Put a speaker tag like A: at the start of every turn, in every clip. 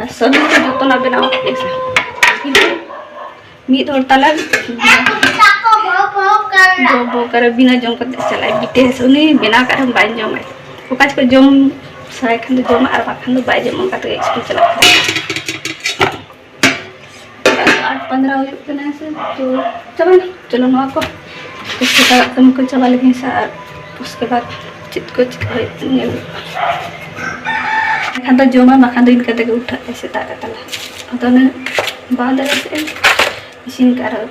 A: ᱟᱨ ᱥᱟᱹᱫᱩ ᱫᱚ ᱡᱚᱛᱚᱱᱟᱜ ᱵᱮᱱᱟᱣ ᱠᱟᱛᱮᱫ ᱥᱮ ᱠᱤᱱᱛᱩ ᱢᱤᱫ ᱦᱚᱲ ᱛᱟᱞᱮ ᱵᱚᱠᱟᱨᱮ ᱵᱤᱱᱟᱹ ᱡᱚᱢ ᱠᱟᱛᱮᱫ ᱪᱟᱞᱟᱜᱼᱟᱭ ᱵᱤᱴᱮᱥ ᱩᱱᱤ ᱵᱮᱱᱟᱣ ᱠᱟᱜ ᱨᱮᱦᱚᱸ ᱵᱟᱭ ᱡᱚᱢᱟᱭ ᱚᱠᱟ ᱡᱚᱠᱷᱚᱱ ᱡᱚᱢ ᱥᱟᱱᱟᱭ ᱠᱷᱟᱱ ᱫᱚ ᱡᱚᱢᱟ ᱟᱨ ᱵᱟᱠᱷᱟᱱ ᱫᱚ ᱵᱟᱭ ᱡᱚᱢᱟ ᱚᱱᱠᱟ ᱛᱮᱜᱮ ᱥᱠᱩᱞ ᱪᱟᱞᱟᱜ ᱠᱟᱱᱟ ᱟᱴ ᱯᱚᱱᱫᱨᱚ ᱦᱩᱭᱩᱜ ᱠᱟᱱᱟ ᱥᱮ ᱛᱚ ᱪᱟᱵᱟᱭᱮᱱᱟ ᱪᱚᱞᱚ ᱱᱚᱣᱟ ᱠᱚ ᱩᱥᱠᱮ ᱵᱟᱫ ᱠᱟᱹᱢᱤ ᱠᱚ ᱪᱟᱵᱟ ᱞᱮᱜᱮᱧ ᱥᱮ ᱟᱨ ᱩᱥᱠᱮ ᱵᱟᱫ ᱪᱮᱫ ᱠᱚ ᱪᱤᱠᱟᱹ ᱦᱩᱭᱩᱜ ᱠᱟᱱᱟ ᱧᱮᱞ ᱦᱩᱭᱩᱜᱼᱟ ᱵᱟᱠᱷᱟᱱ ᱫᱚ ᱡᱚᱢᱟ ᱵᱟᱠᱷᱟᱱ ᱫᱚ ᱤᱱᱠᱟᱹ ᱛᱮᱜᱮ ᱩᱴᱷᱟᱹᱜ ᱛᱮ ᱥᱮᱛᱟᱜ ᱨᱮ ᱛᱟᱞᱟ ᱟᱫᱚ ᱚᱱᱮ ᱵᱟᱝ ᱫᱟᱲᱮᱭᱟᱜ ᱛᱮ ᱤᱥᱤᱱ ᱠᱟᱜ ᱨᱮᱦᱚᱸ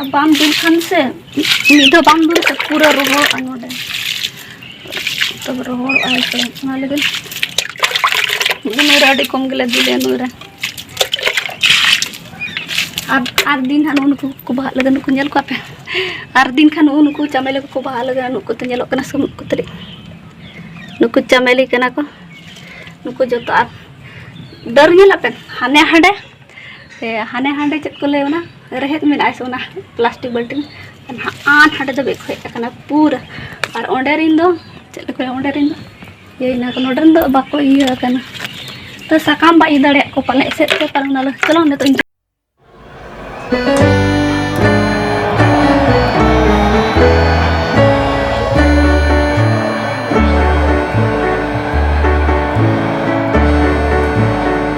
A: ᱟᱨ ᱵᱟᱢ ᱫᱩᱞ ᱠᱷᱟᱱ ᱥᱮ ᱢᱤᱫ ᱫᱷᱟᱣ ᱵᱟᱢ ᱫᱩᱞ ᱠᱷᱟᱱ ᱯᱩᱨᱟᱹ ᱨᱚᱦᱚᱲᱚᱜᱼᱟ ᱱᱚᱰᱮ ᱛᱚᱵᱮ ᱨᱚᱦᱚᱲᱚᱜᱼᱟ ᱥᱮ ᱚᱱᱟ ᱞᱟᱹᱜᱤᱫ ᱱᱩᱭᱨᱮ ᱟᱹᱰᱤ ᱠᱚᱢ ᱜᱮᱞᱮ ᱫᱩᱞᱮ ᱱᱩᱭᱨᱮ ᱟᱨ ᱟᱨ ᱫᱤᱱ ᱦᱟᱸᱜ ᱱᱩᱠᱩ ᱠᱚ ᱵᱟᱦᱟᱜ ᱞᱟᱹᱜᱤᱫ ᱱᱩᱠᱩ ᱧᱮᱞ ᱠᱚᱣᱟ ᱯᱮ ᱟᱨ ᱫᱤᱱ ᱠᱷᱟᱱ ᱱᱩᱜᱼᱩ ᱱᱩᱠᱩ ᱪᱟᱢᱮᱞᱤ ᱠᱚᱠᱚ ᱵᱟᱦᱟᱜ ᱞᱟᱹᱜᱤᱫ ᱱᱩᱠᱩ ᱛᱮ ᱧᱮᱞᱚᱜ ᱠᱟᱱᱟ ᱥᱩᱱᱩᱜ ᱠᱚ ᱛᱟᱹᱨᱤᱡ ᱱᱩᱠᱩ ᱪᱟᱢᱮᱞᱤ ᱠᱟᱱᱟ ᱠᱚ ᱱᱩᱠᱩ ᱡᱚᱛᱚ ᱟᱨ ᱰᱟᱹᱨ ᱧᱮᱞ ᱟᱯᱮ ᱦᱟᱱᱮ ᱦᱟᱸᱰᱮ ᱥᱮ ᱦᱟᱱᱮ ᱦᱟᱸᱰᱮ ᱪᱮᱫ ᱠᱚ ᱞᱟᱹᱭᱟ ᱚᱱᱟ ᱨᱮᱦᱮᱫ ᱢᱮᱱᱟᱜᱼᱟ ᱥᱮ ᱚᱱᱟ ᱯᱞᱟᱥᱴᱤᱠ ᱵᱟᱹᱞᱴᱤᱱ ᱟᱱ ᱦᱟᱸᱰᱮ ᱫᱚ ᱵᱮᱠ ᱦᱮᱡ ᱟᱠᱟᱱᱟ ᱯᱩᱨᱟᱹ ᱟᱨ ᱚᱸᱰᱮ ᱨᱤᱱ ᱫᱚ ᱪᱮᱫ ᱞᱮᱠᱟ ᱚᱸᱰᱮ ᱨᱤᱱ ᱫᱚ ᱤᱭᱟᱹ ᱦᱮᱱᱟᱜ ᱠᱚ ᱱᱚᱰᱮ ᱨᱮᱱ ᱫᱚ ᱵᱟᱠᱚ ᱤᱭᱟᱹ ᱟᱠᱟᱱᱟ ᱛᱚ ᱥᱟᱠᱟᱢ ᱵᱟᱭ ᱤᱭᱟᱹ ᱫᱟᱲᱮᱭᱟᱜ ᱠᱚ ᱯᱟᱞᱮ ᱮᱥᱮᱫ ᱛᱮ ᱯᱟᱞᱮ ᱚᱱᱟ ᱪᱚᱞᱚ ᱱᱤᱛᱚᱜ ᱤᱧ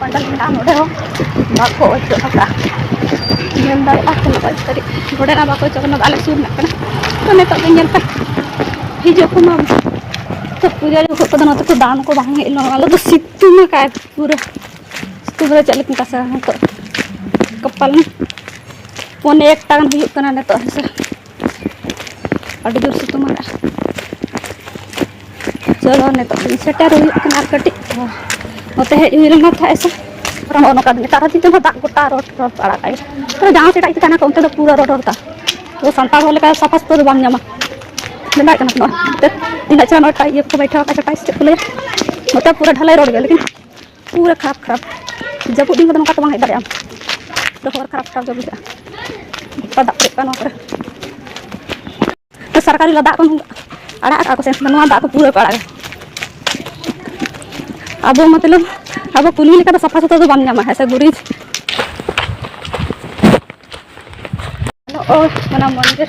A: ᱱᱚᱰᱮ ᱦᱚᱸ ᱵᱟᱠᱚ ᱚᱪᱚᱜ ᱟᱠᱟᱫᱼᱟ ᱧᱮᱞ ᱫᱟᱲᱮᱭᱟᱜᱼᱟ ᱛᱤᱱᱟᱹᱜ ᱢᱚᱡᱽ ᱥᱟᱹᱨᱤ ᱱᱚᱰᱮ ᱱᱟᱜ ᱵᱟᱠᱚ ᱚᱪᱚᱜ ᱠᱟᱱᱟ ᱟᱞᱮ ᱥᱩᱨ ᱨᱮᱱᱟᱜ ᱠᱟᱱᱟ ᱛᱚ ᱱᱤᱛᱚᱜ ᱫᱚ ᱧᱮᱞ ᱯᱮ ᱦᱤᱡᱩᱜ ᱠᱚ ᱢᱟ ᱛᱚ ᱯᱩᱡᱟᱹ ᱡᱚᱠᱷᱚᱱ ᱠᱚᱫᱚ ᱱᱚᱛᱮ ᱠᱚ ᱫᱟᱬᱟᱱ ᱠᱚ ᱵᱟᱝ ᱦᱮᱡ ᱞᱮᱱᱟ ᱟᱞᱮ ᱫᱚ ᱥᱤᱛᱩᱝ ᱟᱠᱟᱫᱼᱟᱭ ᱯᱩᱨᱟᱹ ᱥᱤᱛᱩᱝ ᱨᱮ ᱪᱮᱫ ᱞᱮᱠᱟᱧ ᱛᱟᱥᱮ ᱱᱤᱛᱚᱜ ᱠᱚᱯᱟᱞ ᱯᱚᱱᱮ ᱮᱠᱴᱟ ᱜᱟᱱ ᱦᱩᱭᱩᱜ ᱠᱟᱱᱟ ᱱᱤᱛᱚᱜ ᱦᱮᱸᱥᱮ ᱟᱹᱰᱤ ᱡᱳᱨ ᱥᱤᱛᱩᱝ ᱟᱠᱟᱫᱼᱟ ᱪᱚᱞᱚ ᱱᱤᱛᱚᱜ ᱫᱤᱱ ᱥᱮᱴᱮᱨ ᱦᱩᱭᱩᱜ ᱠᱟᱱᱟ ᱟᱨ ᱠᱟᱹᱴᱤᱡ ᱱᱚᱛᱮ ᱦᱮᱡ ᱦᱩᱭ ᱞᱮᱱᱟ ᱛᱟᱦᱮᱸ ᱥᱮ ᱯᱩᱨᱟᱹ ᱱᱚᱜᱼᱚ ᱱᱚᱝᱠᱟ ᱱᱮᱛᱟᱨ ᱫᱤᱱ ᱛᱮᱦᱚᱸ ᱫᱟᱜ ᱜᱚᱴᱟ ᱨᱚᱰ ᱨᱚᱰ ᱟᱲᱟᱜ ᱟᱭ ᱛᱚ ᱡᱟᱦᱟᱸ ᱥᱮᱫ ᱟᱡ ᱛᱟᱦᱮᱱᱟ ᱠᱚ ᱚᱱᱛᱮ ᱫᱚ ᱯᱩᱨᱟᱹ ᱨᱚᱰ ᱨᱚᱰ ᱫᱟᱜ ᱛᱚ ᱥᱟᱱᱛᱟᱲ ᱦᱚᱲ ᱞᱮᱠᱟ ᱥᱟᱯᱷᱟ ᱥᱩᱛᱨᱟᱹ ᱫᱚ ᱵᱟᱢ ᱧᱟᱢᱟ ᱵᱟᱭ ᱠᱟᱱᱟ ᱱᱚᱜᱼᱚᱭ ᱤᱱᱟᱹᱜ ᱪᱮᱦᱨᱟ ᱱᱚᱜᱼᱚᱭ ᱤᱭᱟᱹ ᱠᱚ ᱵᱟᱭᱴᱷᱟᱣ ᱟᱠᱟᱫ ᱪᱮᱫ ᱠᱚ ᱞᱟᱹᱭᱟ ᱱᱚᱛᱮ ᱯᱩᱨᱟᱹ ᱰᱷᱟᱞᱟᱭ ᱨᱚᱰ ᱜᱮᱭᱟ ᱞᱮᱠᱤᱱ ᱯᱩᱨᱟᱹ ᱠᱷᱟᱨᱟᱯ ᱠᱷᱟᱨᱟᱯ ᱡᱟᱹᱯᱩᱫ ᱫᱤᱱ ᱠᱚᱫᱚ ᱱᱚᱝᱠᱟ ᱛᱚ ᱵᱟᱝ ᱦᱮᱡ ᱫᱟᱲᱮᱭᱟᱜᱼᱟ ᱛᱚ ᱦᱚᱨ ᱠᱷᱟᱨᱟᱯ ᱠᱷᱟᱨᱟᱯ ᱜᱮ ᱵᱩᱡᱷᱟᱹᱜᱼᱟ ᱜᱚᱴᱟ ᱫᱟᱜ ᱯᱮᱨᱮᱡ ᱠᱚᱜᱼᱟ ᱱᱚᱣᱟ ᱠᱚᱨᱮ ᱛᱚ ᱥᱚᱨᱠᱟᱨᱤ ᱫᱟᱜ ᱠᱚ ᱟᱲᱟᱜ ᱠᱟᱜᱼᱟ ᱠᱚ ᱥᱮ ᱱᱚᱣᱟ ᱫᱟᱜ ᱠᱚ ᱯᱩᱨᱟᱹ ᱠᱚ ᱟᱲᱟᱜᱟ ᱟᱵᱚ ᱢᱚᱛᱞᱚᱵ ᱟᱵᱚ ᱠᱩᱞᱢᱤ ᱞᱮᱠᱟ ᱫᱚ ᱥᱟᱯᱷᱟ ᱥᱩᱛᱨᱚ ᱫᱚ ᱵᱟᱢ ᱧᱟᱢᱟ ᱦᱮᱸ ᱥᱮ ᱜᱩᱨᱤᱡ ᱚᱱᱟ ᱢᱚᱱᱫᱤᱨ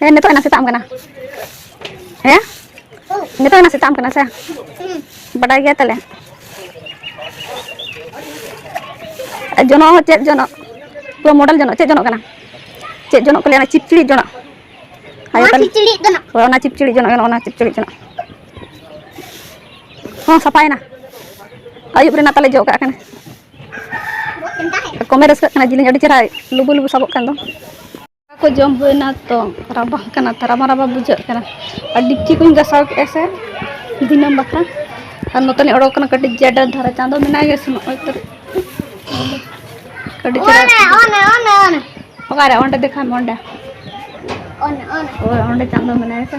A: ᱦᱮᱸ ᱱᱤᱛᱚᱜ ᱮᱱᱟ ᱥᱮᱛᱟᱜ ᱠᱟᱱᱟ ᱦᱮᱸ ᱱᱤᱛᱚᱜ ᱮᱱᱟ ᱥᱮᱛᱟᱜ ᱠᱟᱱᱟ ᱥᱮ ᱵᱟᱰᱟᱭ ᱜᱮᱭᱟ ᱛᱟᱦᱞᱮ ᱡᱚᱱᱚᱜ ᱦᱚᱸ ᱪᱮᱫ ᱡᱚᱱᱚᱜ ᱯᱩᱨᱟᱹ ᱢᱚᱰᱮᱞ ᱡᱚᱱᱚᱜ ᱪᱮᱫ ᱡᱚᱱᱚᱜ ᱠᱟᱱᱟ ᱪᱮᱫ ᱡᱚᱱᱚᱜ ᱠᱚ ᱞᱟᱹᱭᱟ ᱪᱤᱯᱪᱤᱲᱤ ᱡᱚᱱᱚᱜ ᱟᱭᱳ ᱛᱟᱞᱮ ᱦᱳᱭ ᱚᱱᱟ ᱪᱤᱯᱪᱤᱲᱤ ᱡᱚᱱᱚᱜ ᱜᱟᱱᱚᱜᱼᱟ ᱚᱱᱟ ᱪᱤᱯᱪᱤᱲᱤ ᱡᱚᱱᱚᱜ ᱦᱚᱸ ᱥᱟᱯᱷᱟᱭᱮᱱᱟ ᱟᱹᱭᱩᱵ ᱨᱮᱱᱟᱜ ᱛᱟᱞᱮ ᱡᱚᱜ ᱠᱟᱜ ᱠᱟᱱᱟ ᱠᱚᱢᱮ ᱨᱟᱹᱥᱠᱟᱹᱜ ᱠᱟᱱᱟ ᱡᱤᱞᱤᱧ ᱟᱹᱰᱤ ᱪᱮᱦᱨᱟ ᱞᱩᱵᱩ ᱞᱩᱵᱩ ᱥᱟᱵᱚᱜ ᱠᱟᱱ ᱫᱚ ᱫᱟᱠᱟ ᱠᱚ ᱡᱚᱢ ᱦᱩᱭᱱᱟ ᱛᱚ ᱨᱟᱵᱟᱝ ᱠᱟᱱᱟ ᱛᱚ ᱨᱟᱵᱟᱝ ᱨᱟᱵᱟᱝ ᱵᱩᱡᱷᱟᱹᱜ ᱠᱟᱱᱟ ᱟᱨ ᱰᱮᱠᱪᱤ ᱠᱚᱧ ᱜᱟᱥᱟᱣ ᱠᱮᱫᱼᱟ ᱥᱮ ᱫᱤᱱᱟᱹᱢ ᱵᱟᱠᱷᱨᱟ ᱟᱨ ᱱᱚᱛᱮ ᱞᱤᱧ ᱚᱰᱚᱠ ᱠᱟᱱᱟ ᱠᱟᱹᱴᱤᱡ ᱡᱟᱰᱟ ᱫᱷᱟᱨᱟ ᱪᱟᱸᱫᱚ ᱢᱮᱱᱟᱭ ᱜᱮ ᱥᱮᱱᱚᱜ ᱟᱭ ᱛᱚ ᱠᱟᱹᱴᱤᱡ ᱪᱮᱦᱨᱟ ᱚᱠᱟᱨᱮ ᱚᱸᱰᱮ ᱫᱮᱠᱷᱟᱣ ᱢᱮ ᱚᱸᱰᱮ ᱦᱳᱭ ᱚᱸᱰᱮ ᱪᱟᱸᱫᱚ ᱢᱮᱱᱟᱭᱟ ᱥᱮ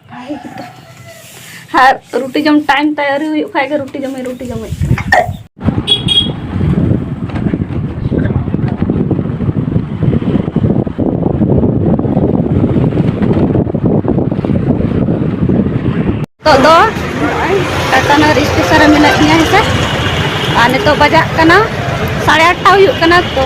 A: ᱵᱷᱟᱜᱮ ᱜᱮᱛᱚ ᱟᱨ ᱨᱩᱴᱤ ᱡᱚᱢ ᱴᱟᱭᱤᱢ ᱛᱟᱭ ᱟᱹᱣᱨᱤ ᱦᱩᱭᱩᱜ ᱠᱷᱟᱡ ᱜᱮ ᱨᱩᱴᱤ ᱡᱚᱢᱮ ᱨᱩᱴᱤ ᱡᱚᱢᱮᱫ ᱠᱟᱱᱟ ᱱᱤᱛᱚᱜ ᱫᱚ ᱱᱚᱜᱼᱚᱭ ᱴᱟᱴᱟᱱᱚᱜᱚᱨ ᱥᱴᱮᱥᱚᱱ ᱨᱮ ᱢᱮᱱᱟᱜ ᱞᱤᱧᱟ ᱦᱮᱸᱥᱮ ᱟᱨ ᱱᱤᱛᱚᱜ ᱵᱟᱡᱟᱜ ᱠᱟᱱᱟ ᱥᱟᱲᱮ ᱟᱴᱴᱟ ᱦᱩᱭᱩᱜ ᱠᱟᱱᱟ ᱛᱚ